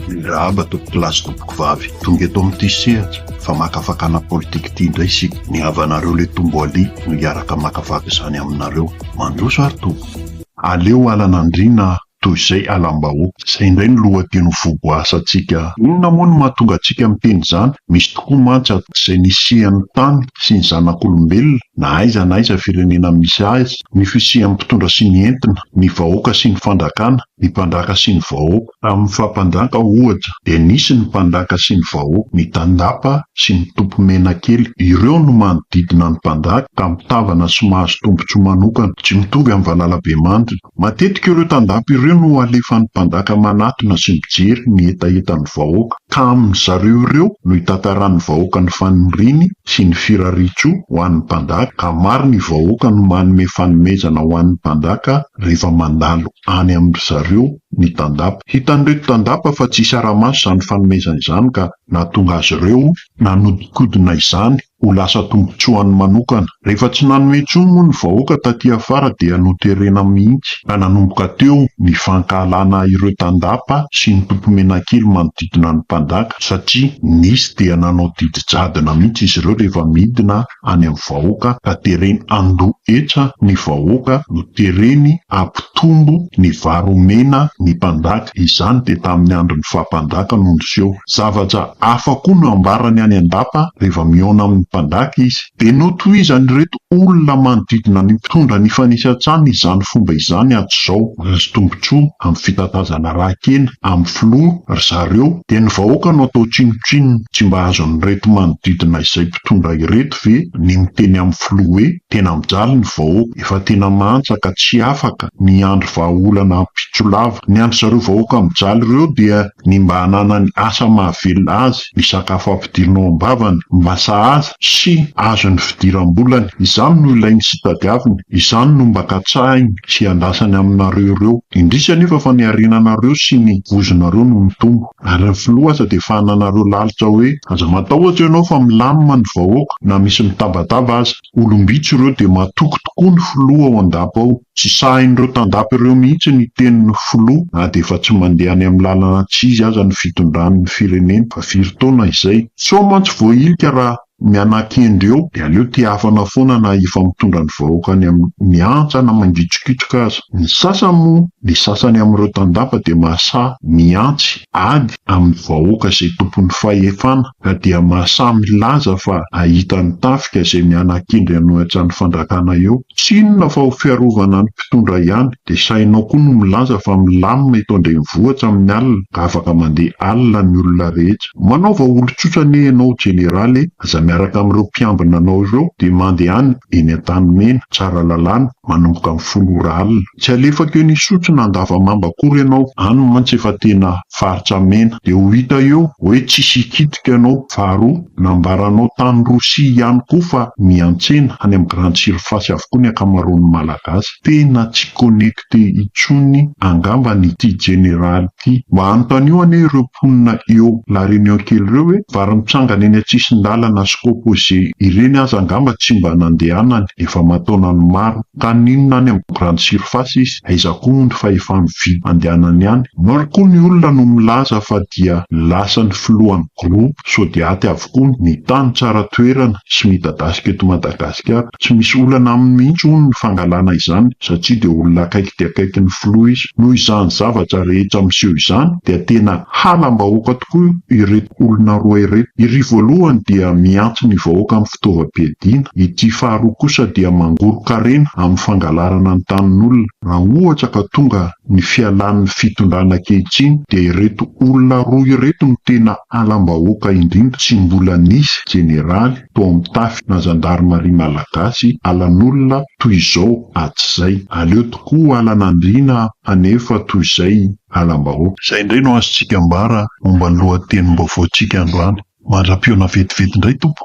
Mirahaba tompoko lahy sy tompoko vavy tonga eto amin'ity sehatra famakafakana politika ity indray isika. Ny havanareo Letombo Ali no hiaraka hamakafaka izany aminareo. Mandroso ary tompoko. Aleo halan'andriana toy izay halam-bahoaka. Izay indray no lohateny ho voboasantsika. Inona moa no mahatonga antsika miteny izany? Misy tokoa mantsy ato izay nisian'ny tany sy ny zanak'olombelona na aiza na aiza firenena misy azy. ny fisian'ny mpitondra sy ny entina, ny vahoaka sy ny fandrakana, ny mpandraka sy ny vahoaka. Tamin'ny faha-mpanjaka, ohatra, dia nisy ny mpandraka sy ny vahoaka, ny tandapa sy ny tompomenakely. Ireo no manodidina ny mpandraka, ka mitavana sy mahazo tombontsoa manokana, tsy mitovy amin'ny valalabemandrika. Matetika ireo tandapa ireo no alefan'ny mpandraka manatona sy mijery ny hetahetan'ny vahoaka, ka amin-dry zareo ireo no itantaran'ny vahoaka ny faniriany, sy ny firaritso ho an'ny mpanjaka ka maro ny vahoaka no manome fanomezana ho an'ny mpanjaka rehefa mandalo any amin-dry zareo ny tandapa. Hitan'ireto tandapa fa tsy saramaso izany fanomezana izany ka nahatonga azy ireo nanodinkodina izany ho lasa tombontsoany manokana. Rehefa tsy nanome intsony moa ny vahoaka taty afara dia noterena mihitsy ka nanomboka teo ny fankahalana ireo tandapa sy ny tompomenakely manodidina ny mpanjaka. satria nisy dia nanao didy jadona mihitsy izy ireo rehefa midina any amin'ny vahoaka ka tereny handoa hetra ny vahoaka no tereny hampitombo ny vary omena ny mpanjaka, izany dia tamin'ny andron'ny faha mpanjaka no niseho. Zavatra hafa koa no ambarany any an-dapa rehefa mihaona amin'ny mpanjaka izy. Dia notohizan'ireto olona manodidina ny mpitondra ny fanisantsahan' izany fomba izany ato izao, azo tombontsoa amin'ny fitatazana rà-kena amin'ny filoha ry zareo, dia ny vahoaka no atao tsinontsinona, tsy mba azon'ireto manodidina izay mpitondra ireto ve ny miteny amin'ny filoha hoe tena mijaly ny vahoaka, efa tena mantsa ka tsy afaka ny hiandry vahaolana ampitso lava, ny an-dry zareo vahoaka mijaly ireo dia ny mba hananany asa mahavelona azy, ny sakafo Ampidirinao am-bavany mba sahaza sy azony fidiram-bolany. Izany no ilainy sy tadiaviny. Izany no mba katsahiny sy iandrasany aminareo ireo. Indrisy anefa fa ny harenanareo sy ny vozonareo no mitombo. Ary ny filoha aza dia fahananareo lalitra hoe, Aza matahotra ianao fa milamina ny vahoaka na misy mitabataba aza. Olom-bitsy ireo dia matoky tokoa ny filoha ao an-dapa ao. Tsy sahin'ireo tandapa ireo mihitsy ny tenin'ny filoha na dia efa tsy mandeha any amin'ny lalana tsy izy aza ny fitondrany ny firenena fa firy taona izay. Sao mantsy voahilika raha mianakendry eo dia aleo tehafana foana na efa mitondra ny vahoaka any amin'ny antsa na mangitsokitsoka aza. Ny sasany moa, ny sasany amin'ireo tandapa dia mahasahy mihantsy ady amin'ny vahoaka izay tompon'ny fahefana. ka dia Masa milaza fa ahita ny tafika izay mianakindry anao etsy any fandrakana eo. Tsy inona fa ho fiarovana ny mpitondra ihany, dia sahinao koa no milaza fa milamina eto an-drenivohitra amin'ny alina ka afaka mandeha alina ny olona rehetra. Manaova olon-tsotra anie ianao jeneraly e! Aza miaraka amin'ireo mpiambina anao ireo dia mandehana. eny Antanimena, Tsaralalàna, manomboka amin'ny folo ora alina. Tsy alefako eny Isotry na Andavamamba akory ianao, any mantsy efa tena faritra mena, dia ho hita eo hoe tsisy hikitika ianao. Faharoa, nambaranao tany Rosia ihany koa fa miantsena any amin'ny grande surface avokoa ny ankamaroan'ny Malagasy. Tena tsy connecté. députés intsony angambany ity jeneraly ity. Mba anontanio anie ireo mponina eo La Réunion kely ireo hoe vary mitsangana eny an-tsisin-dalana sy composé ireny aza angamba tsy mba nandehanany efa aman-taonany maro. Ka n'inona any amin'ny grande surface izy? Aiza koa moa ny fahefany vy andehanany any? Maro koa ny olona no milaza fa dia lasan'ny filohan'ny groupe Sodiaty avokoa. tokoa ny tany tsara toerana sy midadasika eto Madagasikara. Tsy misy olana aminy mihitsy hono ny fangalana izany satria dia olona akaiky dia akaiky ny filoha izy. Noho izany zavatra rehetra miseho izany dia tena halam-bahoaka tokoa ireto olona roa ireto. Iry voalohany dia mihantsy ny vahoaka amin'ny fitaovam-piadiana, ity faharoa kosa dia mangorok'arena amin'ny fangalarana ny tanin'olona. Raha ohatra ka tonga Ny fialan'ny fitondrana ankehitriny dia ireto olona roa ireto no tena alam-bahoaka indrindra tsy mbola nisy jeneraly tao amin'ny tafy na zandarimaria malagasy alan'olona toy izao hatrizay. Aleo tokoa ho alan'andriana anefa toy izay alam-bahoaka. Izay indray no azontsika ambara momba ny lohatenim-baovaontsika androany. Mandra-pihaona vetivety indray Tompo.